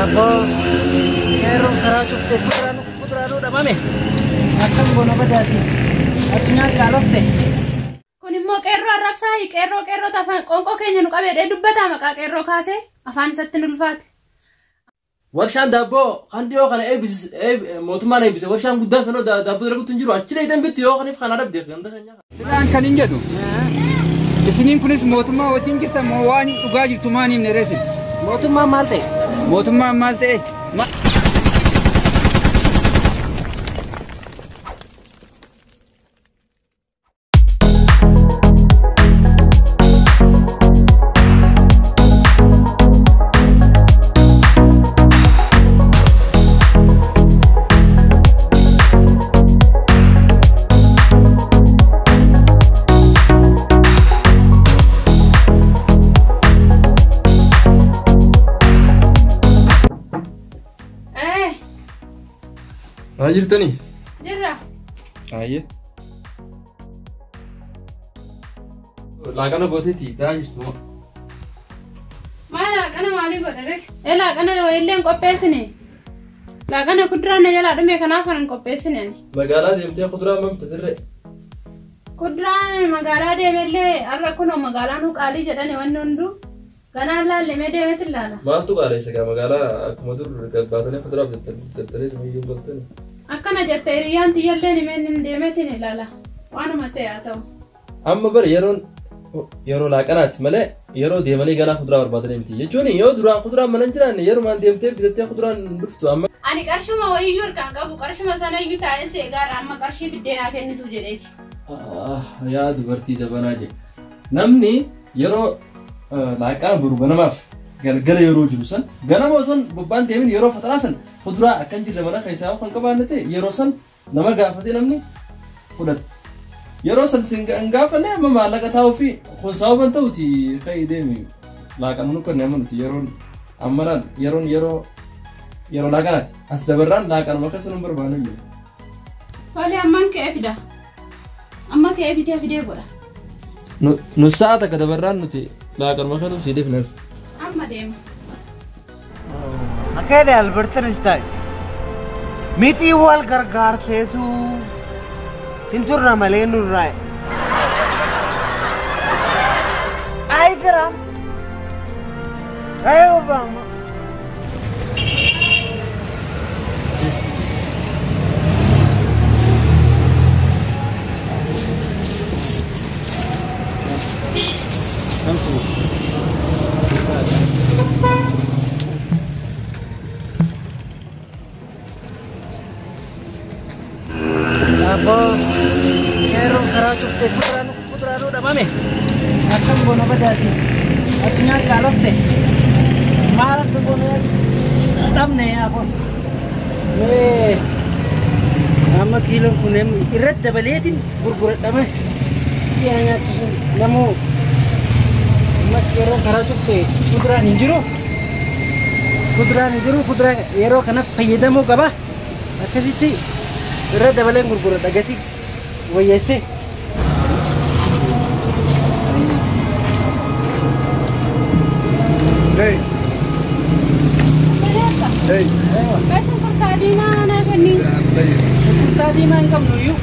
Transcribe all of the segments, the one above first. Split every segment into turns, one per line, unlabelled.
Aboo seeroo karaa cufte fudraanu fudraanuu dhabame akkam goona badaati addunyaa kaalofte. Kun
immoo qeerroo arrabsaa qeerroo qeerroo afaan qoonqoo keenya nu qabeedhee dubbataa maqaa qeerroo kaasee afaan isatti nu ulfaate.
Warshaan daabboo kan dhiyoo kana eebbis- eeb- mootummaan eebbise warshaan guddaan sanoo daa- daabboo dalaguutti hin jiru achi dheeytan bitti yoo kaniif kan adabdeef ganda keenya. Isaan kan hin jedhu.
Isiniin kunis mootummaa wajjin jirtan moo waan dhugaa jirtu maan hin dheeressin. Mootummaan maal ta'e?
Mootummaan maal
ta'e? Ma-
Eh, Maa jirtanii?
jirra. Ayyee.
Laaqana gooteetii taa jirtu moo? Maa
laaqana maalii godhare? Ee laaqana wayillee hin qopheessine. Laaqana kuduraa na jalaa dhume kanaaf kan hin qopheessine ani. Magaalaa deemtee
kuduraa mam tatirre?
Kuduraan magaalaa deemellee har'a kunoo magaalaa nu qaalii jedhani wanni hunduu ganaa laalle mee deemeti laala. Maaltu qaalessa gaa
magaalaa akkuma dur gabbaatanii kuduraa bitatanii tumii hin galtani. Akkana jette
hiriyyaan tiyyallee nimeen hin deemetiin ilaala waanuma ta'e haa ta'u. Amma bar yeroon
yeroo laaqanaati malee yeroo deemanii ganaa kuduraa barbaadanii miti jechuun yoo duraan kuduraan mana hin jiraanne yerumaan deemtee bitattee kuduraan hin dhuftu amma Ani qarshuma wayiyyuu
harkaan qabu qarshuma sanayyuu taa'een si eegaarra amma qarshii fiddee naa kennitu jedheeti. Ah, yaa
dubartii jabanaa jedhe namni yeroo eh, laaqana boru ganamaaf galgala yeroo jiru san ganama osoo bobbaan deemin yeroo faxaraa san kuduraa akkan jirre mana keessaa yoo kan qabaanne ta'e yeroo san Nama gaafate namni fudhata. Yeroo san sin hin gaafanne amma maallaqa taa'uufi kun sababa hin ta'uti ka'ii deemi. Laaqana nu kenne amma nuti yeroon amma laal yeroon yeroo yeroo laaqanaati. As dabarraan laaqanuma keessa nu barbaanne jiru. Tole
amman ka'ee fida. Amma ka'ee fidee fidee godha.
Nu sa'a takka dabarraan nuti laaqanuma keessa sii deefneef. Amma deema.
Akkana Albert Einstein mitii wal gargaarteetu hin turre malee nurraa. Ayi Tiraam. Ayi Obaama. Aboo qeerroon karaa cuftee fuduraa nu fuduraa nu dhabame akkam goona badaati addunyaa qaalofte maal akka goona dhabne aboo Ee, amma kiiloon kun em- irratti dabaleetiin gurguradhame dhiyaa nyaattu sun namuu ummati yeroo karaa cufte kuduraan hin jiru kuduraan hin jiru kuduraa yeroo kanas fayyadamuu qaba akkasitti irra dabaleen gurguradha gatii wayyeessee
Hey, hey, Meeshaan
kurtaa diimaa naa kenni. hey. Kurtaa
diimaa hin qabnu iyyuu.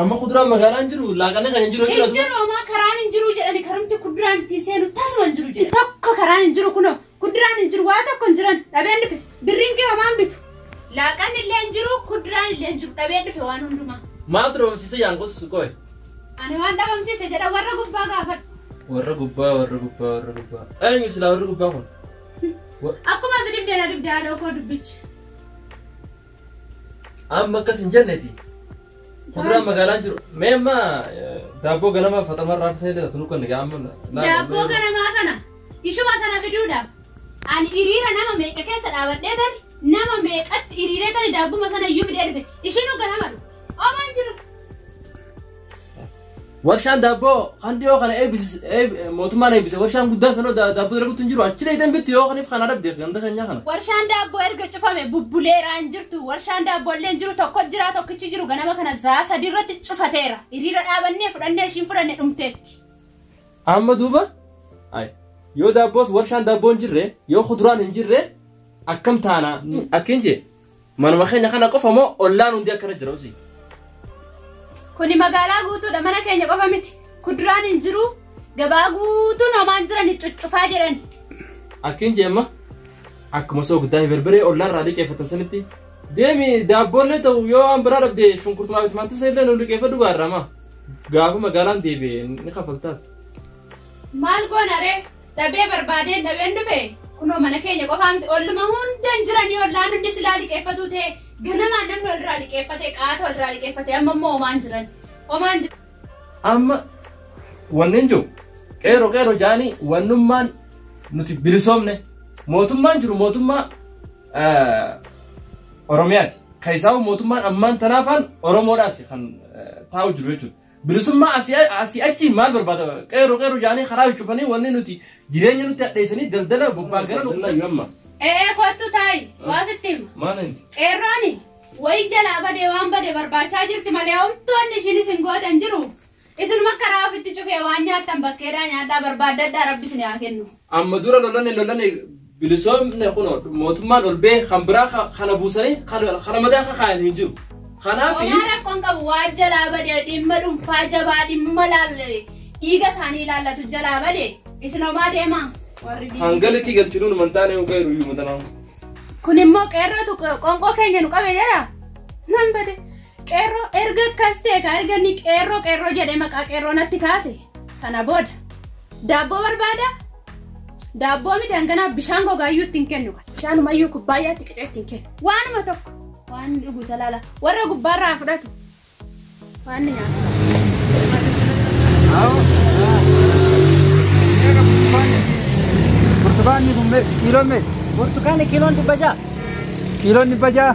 Amma kuduraan magaalaan jiru laaqanee kan hin jiru Hin jechuudha. jiru homaa karaan
hin jiru jedhani karumti kuduraan ittiin seenu tasuma hin jiru jedhe. Tokko karaan hin jiru kunoo kuduraan hin jiru waa tokko hin jiran dhabeen dhufe birriin kee homaan bitu. Laaqan illee hin jiru kuduraan illee hin jiru dhabeen dhufe waan hundumaa. Maaltu dhabamsiise
yaanqus qoy. Ani waan
dhabamsiise jedha warra gubbaa gaafadhu. Warra gubbaa
warra gubbaa warra gubbaa. Eenyu silaa warri gubbaa kun? Akkuma
si dibdee na dibdee haadha koo dubbichi.
Amma akkas hin jenneti. Kuduraan magaalaan jiru. Mee amma eh, daabboo ganama faxamaa irraa fisa illee tunu kan egaa amma. laala- Daabboo ganamaa
sana ishuma sana fiduudhaaf ani hiriira nama meeqa keessa dhaabadhee tani nama meeqatti hiriiree tani daabbuma sana iyyuu fidee dhufe ishiinuu ganama dhufe. Omaan jiru.
Warshaan daabboo kan dhiyoo kana eebbis- eeb- mootummaan eebbise warshaan guddaan sanoo da- daabboo dalaguutti hin jiru achi dheeytan bitti yoo kaniif kana dhabde ganda keenyaa kana. Warshaan daabboo erga
cufame bubbuleeraa hin jirtu. Warshaan daabboo illee hin jiru tokko jira tokkichi jiru ganama kana zaa sadii irratti cufateera. Hiriira dhaabannee fudhannee ishiin fudhanne dhumteetti. Amma
duuba ay, yoo daabboos warshaan daabboo hin jirre yoo kuduraan hin jirre akkam taana akkin jee. Manuma keenya kana qofa moo ollaan hundi akkana jira usii?
Kuni magaalaa guutuudha mana keenya qofa miti. Kuduraan hin jiru gabaa guutuun homaan jiran cuccufaa jedhan. Akkiin
jeemma akkuma soogdaa fi berbiree ollaan irraa liqeeffatan sanitti deemi daabboollee ta'u yoo waan biraa dhabde shunkurtumaa fi timaantimsa illee nu liqeeffadhu gaarrama. Gaafa magaalaan deebi'e ni kafaltaaf.
Maal goona ree? dhabee barbaadeen dhabeen dhufe kunoo mana keenya qofaa miti olluma hundan jiranii ollaan hundi silaa liqeeffatuu ta'e ganamaan namni walirraa liqeeffate qaata walirraa liqeeffate amma immoo omaan jiran omaan jiran.
Amma wanneen jiru qeeroo qeeroo jaanii wannummaan nuti bilisoomne mootummaan jiru mootummaa Oromiyaati. Kan isaa mootummaan ammaan tanaafaan Oromoodhaas kan taa'u jiru jechuudha. Bilisummaa asii achi maal barbaada? Qeerroo qeerroo jaanii karaa cufanii wanni nuti jireenya nutti hadheessanii daldala bobbaa gara bobbaa amma. Ee kottu taa'i
waa sitti hima. Maal inni? Qeerrooni wayi jalaa badee waan bade barbaachaa jirti malee homtoonni ishiin isin gootan jiru. Isinuma karaa ofitti cufee waan nyaattan bakkeedhaa nyaadhaa barbaaddadhaa rabbi isin haa kennu. Amma dura lolane
lolane bilisoomne kuno mootummaan ol bee kan biraa ka- kana buusanii kana kana madaa akka kaayan hin jiru. Kanaaf Homaa rakkoon qabu
waan jalaa bade dhimma dhuunfaa jabaa dhimma laalle dhiiga isaanii ilaallatu jalaa bade isin homaa deema warri diinni. hangalitti
galchinu nu mantaanee yoo gahiru iyyuu matanaa. Kun immoo
qeerrootu qonqoo keenya nu qabe jira. Nan bade. Qeerroo erga akkas ta'e ka erga inni qeerroo qeerroo jedhee maqaa qeerroo natti kaase sana booda daabboo barbaada daabboo miti hanganaa bishaan gogaayyuu ittiin kennu bishaanumayyuu kubbaayyaatti qicee ittiin kennu waanuma tokko waan dhugu isa laala warra gubbaarraa fudhatu waan ni nyaatu.
Burtukaanni kun kiiloon meeqa? Burtukaanni kiiloon
dhibba ja'a. Kiiloon
dhibba ja'a.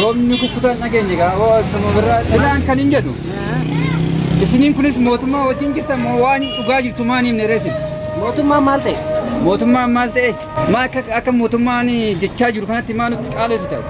Roobni kukkutaan dhageenye gaa oo sama birraa silaan kan hin jedhu. Isiniin kunis mootummaa wajjin jirtan moo waan dhugaa jirtu maan himne reesin. Mootummaan maal ta'e?
Mootummaan maal ta'e?
Maa akka akka mootummaan jechaa jiru kanatti maa nutti qaaleessu ta'e?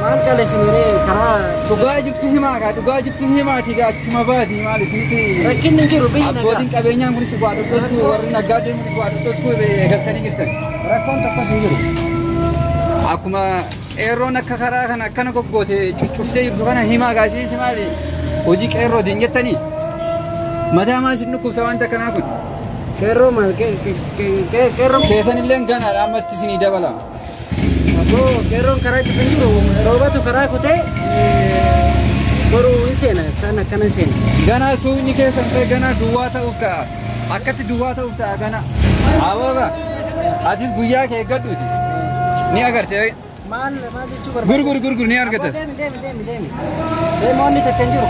Maal
qaleessiniree karaa Dhugaa jirtu himaa
gaa dhugaa jirtu himaati gaa akkuma baati maal isiniti. rakkinni hin jiru biyyi nagaa.
Abbootiin qabeenyaan kunis waa
dhodhosku warri naggaadeen kunis waa dhodhosku eegaltanii jirtan. Rakkoon tokkos hin
jiru. Akkuma
qeerroon akka karaa kana akkana goggoote cuccuftee jirtu kana himaa gaasiisi maali hojii qeerroo diin jettanii mataa maal isin dhukkubsa wanta kanaa kun. Qeerroo maal
qeerroo. Keessan illee ganaadha
ammatti isinii dabala. Aboo
qeerroon karaa cufa hin jiru roobatu karaa kutee boruu hin seena kan akkana hin seena. Ganaa suuqni keessan
ta'e ganaa duwwaa ta'uuf ka'a. Akkatti duwwaa ta'uuf ta'a kana. Abooga atis guyyaa kee eeggadhuuti. Ni agarte. Maal maal
jechuu barbaadde?
Gurguri gurguri
ni argata. Aboo deemi deemi
deemi
deemi. Deemi onni takka hin jiru.